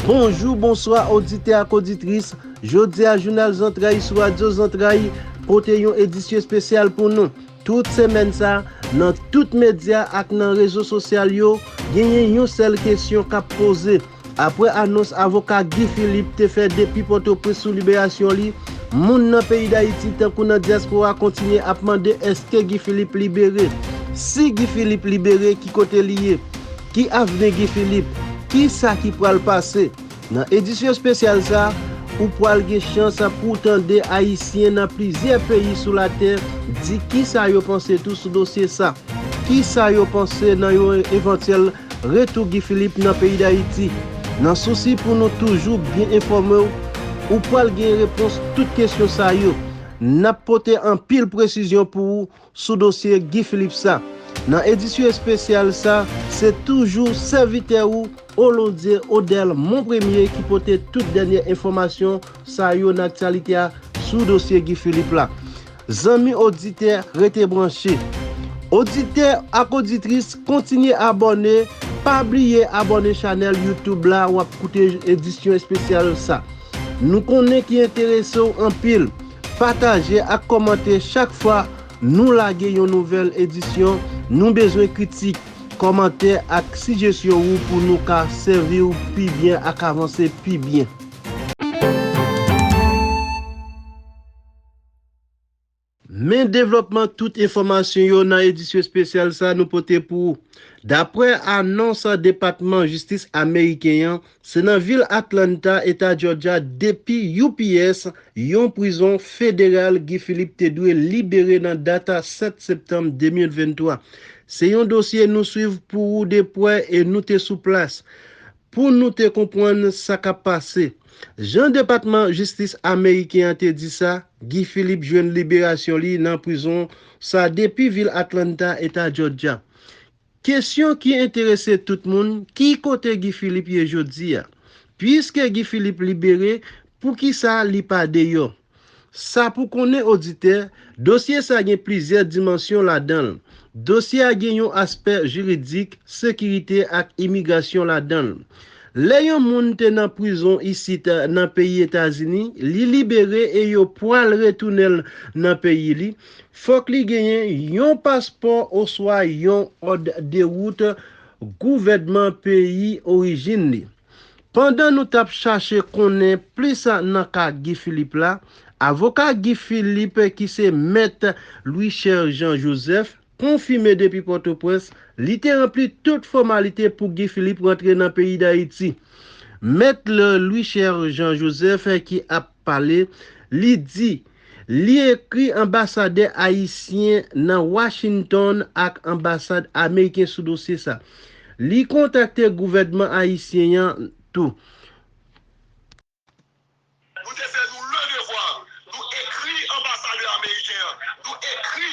Bonjou, bonswa, oditè ak oditris, jodi a jounal zantray sou radyo zantray pote yon edisyon espesyal pou nou. Tout semèn sa, nan tout medya ak nan rezo sosyal yo, genyen yon sèl kesyon kap poze. Aprè anons avoka Guy Philippe te fè depi Pòtoprens sou liberasyon li, moun nan peyi Dayiti tankou nan dyaspora kontinye ap mande èske Guy Philippe libere? Si Guy Philippe libere ki kote li ye? Ki avni Guy Philippe? Ki sa ki pral pase? Nan edisyon espesyal sa, ou pral gen chans pouw tande Ayisyen nan plizyè peyi sou latè di ki sa yo panse tou sou dosye sa. Ki sa yo panse nan yon evantyèl Retou Guy Philippe nan peyi Dayiti. Nan sousi pou nou toujou byen enfòme w, ou pwal gen repons tout kesyon sa yo. Nap pote anpil presizyon pou ou sou dosye Guy Philippe sa. Nan edisyon espesyal sa, se toujou sèvitè ou Olondie Odel Monpremye ki pote tout dènyè enfòmasyon sa yo nan aktyalite a sou dosye Guy Philippe la. Zanmi oditè, rete branche. Oditè ak oditris, kontinye abòne, pa bliye abòne chanèl YouTube la w ap koute edisyon espesyal sa. Nou konnen ki enterese w anpil. Pataje ak kòmante chak fwa nou lage yon nouvèl edisyon, nou bezwen kritik, kòmantè ak sijesyon ou pou nou ka sèvi w pi byen ak avanse pi byen. Men devlòpman tout enfòmasyon yo nan edisyon espesyal sa nou pote pou ou. Daprè anons Depatman Jistis Ameriken an, se nan vil Atlanta, Eta Jòjya depi UPS, yon prizon federal Guy Philippe te dwe libere nan dat 7 septanm 2023. Se yon dosye nou swiv pou ou de pwè e nou te sou plas Pou nou te konpwann sa k ap pase. Jan Depatman Jistis ameriken an te di sa, Guy Philippe jwenn liberasyon li nan prizon sa depi vil Atlanta, Eta Jòjya. Kesyon ki enterese tout moun, ki kote Guy Philippe ye jodi a? Puiske Guy Philippe libere, poukisa li pa deyò? Sa pou konnen oditè, dosye sa gen plizyè dimansyon ladan l. Dosye a gen yon aspè jiridik, sekirite ak imigrasyon ladan l. Lè yon moun te nan prizon isit nan peyi Etazini, li libere e yo pwal retounen l nan peyi li, fòk li genyen yon paspò oswa yon òd dewout gouvènman peyi orijin li. Pandan nou tap chache konnen plis nan ka Guy Philippe la, avoka Guy Philippe ki se mèt Louicher Jean Joseph konfime depi Pòtoprens li te ranpli tout fòmalite pou Guy Philippe rantre nan peyi Dayiti. Mèt Louicher Jean Joseph ki ap pale, li di Li ekri anbasadè ayisyen nan Washington ak anbasad ameriken sou dosye sa. Li kontakte gouvènman ayisyen an tou. Nou te fè nou le devwa nou ekri anbasadè ameriken an, nou ekri.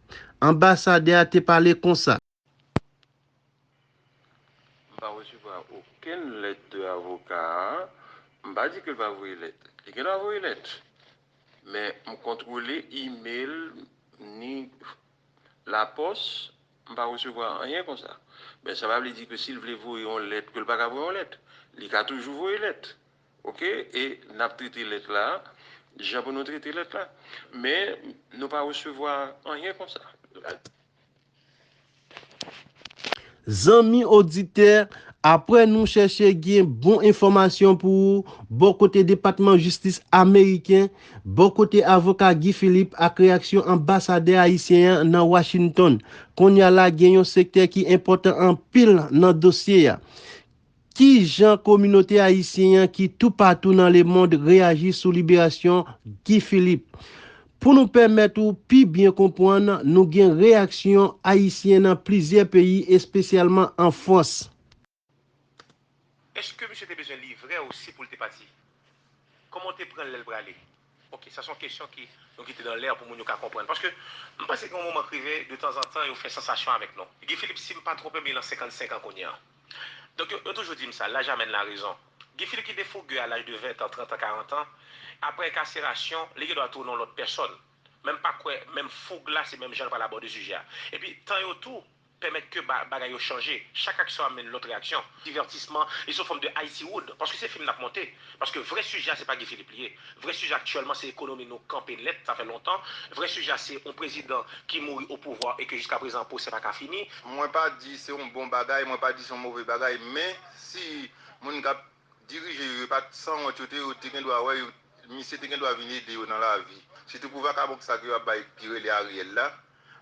Anbasadè a te pale konsa. M pa resevwa okenn lèt de avoka a. M pa di ke l pa voye lèt. Li gen dwa voye lèt. Men m kontwole email ni lapòs, m pa resevwa anyen konsa. Men sa pa vle di ke si l vle voye yon lèt ke l pa ka voye yon lèt. Li ka toujou voye lèt. Ok e nap trete lèt la jan pou nou trete lèt la men nou pa resevwa anyen konsa. Zanmi oditè, apre nou chèche gen bon enfòmasyon pou ou bò kote Depatman Jistis Ameriken, bò kote avoka Guy Philippe ak reyaksyon anbasadè ayisyen an nan Washington, kounye a la gen yon sektè ki enpòtan anpil nan dosye a. Ki jan kominote ayisyen an ki toupatou nan lemond reyaji sou liberasyon Guy Philippe? Pou nou pèmèt ou pi byen konpwann, nou gen reyaksyon ayisyen nan plizyè peyi espesyalman an Frans. Eske misye te bezwen livre osi poul te pati? Koman w te pranl lel prale? Ok sa son kesyon ki nou kite nan l'air pou moun yo ka konprann paske m panse gen yon moman k rive de tanzantan yo fè sansasyon avèk nou Guy Philippe si m pa twonpe m li lan 55 an kounye an donk yo toujou di m sa laj amèn la rezon Guy Philippe ki te fouge a laj de 20 tan 30 an 40 an aprè enkaserasyon li gen dwa tounen yon lòt pèsòn men m pa kwè menm fouge la se menm jan l pral abòde sijè a epi tan yo tou Pèmèt ke bagay yo chanje. Chak aksyon amenn lòt reyaksyon. Divètisman, li son fòm de Haiti Wood, paske se fim nap monte. Paske vrè sijè a se pa Guy Philippe li ye. Vrè sijè aktyèlman se ekonomi nou kanpe nèt, sa fè lontan. Vrè sijè a se yon prezidan ki mouri o pouvwa e ke jiska prezan pwosè pa ka fini. Mwen pa di se yon bon bagay, mwen pa di se yon move bagay, men si moun kap Dirije yo yo pat sanwont yo te yo te gen dwa wè yo misye te gen dwa vin ede yo nan lavi sitou pou vakabon sa ke yo ap bay ki rele Ariel la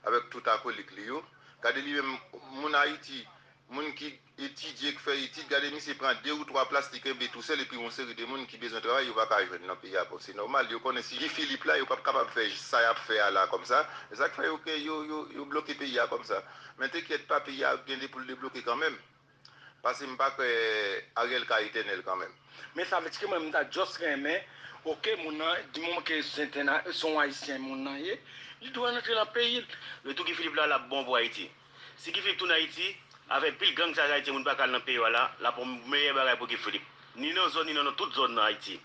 avèk tout akolik li yo gade li menm moun ayiti moun ki etidye k fè etid gade misye pran 2 ou 3 plas li kenbe tou sèl epi yon seri de moun ki bezwen travay yo pa ka jwenn nan peyi a bon se nòmal yo konnen si Guy Philippe la yo pap kapab fè sa yap fè a la kòmsa esak fè yo ke yo yo yo bloke peyi a kòmsa men te kyèt pa peyi a ap gen de poul debloke kanmenm. Pase m pa kwè Ariel ka etènèl kanmenm. Men sa vle di ke mwen m ta just renmen ok moun nan di moman ke se yon ayisyen moun nan ye li dwe rantre nan peyi l. Retou Guy Philippe la lap bon pou Ayiti. Si Guy Philippe tounen Ayiti, avèk pil gang sa yo ayisyen moun pa ka al nan peyi yo a la, lap yon meyè bagay pou Guy Philippe. Ni nan zòn ni nan lòt tout zòn nan Ayiti.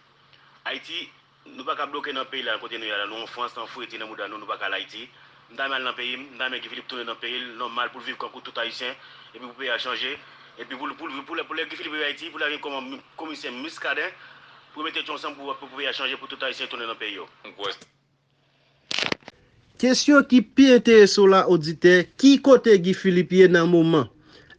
Ayiti Nou paka bloke nan peyi la kote nou ye a la nou an frans nan fredi nan mouda nou nou paka al ayiti m ta renmen al nan peyi m m ta renmen Guy Philippe tounen nan peyi l nòmal pou l viv kankou tout ayisyen epi pou peyi a chanje epi pou l pou l pou lè pou lè Guy Philippe rive ayiti pou l ta vin kòman komisè Muscadin pou yo mete tèt yo ansanm pou pou peyi a chanje pou tout ayisyen tounen nan peyi yo. Kesyon ki pi enterese w la oditè, ki kote Guy Philippe ye nan moman?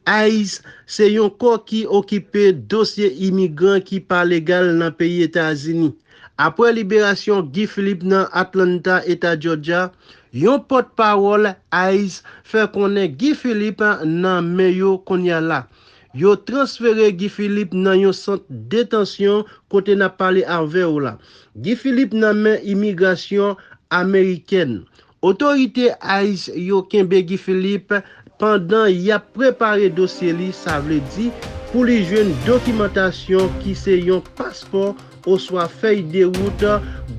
ice se yon kò ki okipe dosye imigran ki pa legal nan peyi Etazini. Apre liberasyon Guy Philippe nan Atlanta, Eta Jòjya, yon pòtpawòl ice fè konnen Guy Philippe nan men yo kounye a la. Yo transfere Guy Philippe nan yon sant detansyon kote nap pale avè w la. Guy Philippe nan men imigrasyon amerikèn. Otorite ice yo kenbe Guy Philippe pandan yap prepare dosye li sa vle di pou li jwenn dokimantasyon ki se yon paspò oswa fèy de wout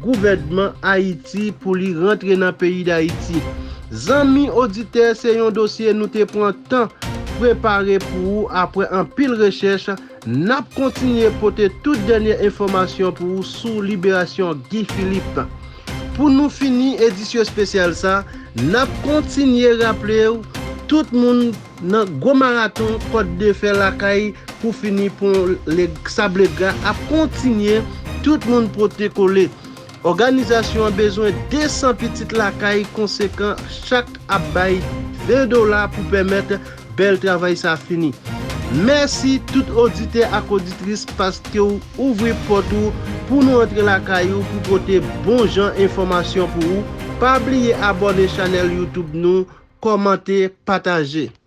gouvènman Ayiti pou li rantre nan peyi Dayiti. Zanmi oditè se yon dosye nou te pran tan prepare pou ou apre anpil rechèch, nap kontinye pote tout dènyè enfòmasyon pou ou sou liberasyon Guy Philippe. Pou nou fini edisyo spesyal sa, nap kontinye raple ou tout moun. Nan gwo maraton Kòt de Fè lakay pou fini pon Lèk Sablegra ap kontinye, tout moun pote kole. Òganizasyon an bezwen 200 pitit lakay konsekan chak ap bay 20 dola pou pèmèt bèl travay sa fini. Mèsi tout oditè ak oditris paske w ouvri pòt ou pou nou antre lakay ou pou pote bon jan enfòmasyon pou ou. Pa bliye abòne chanèl youtube nou, kòmante, pataje.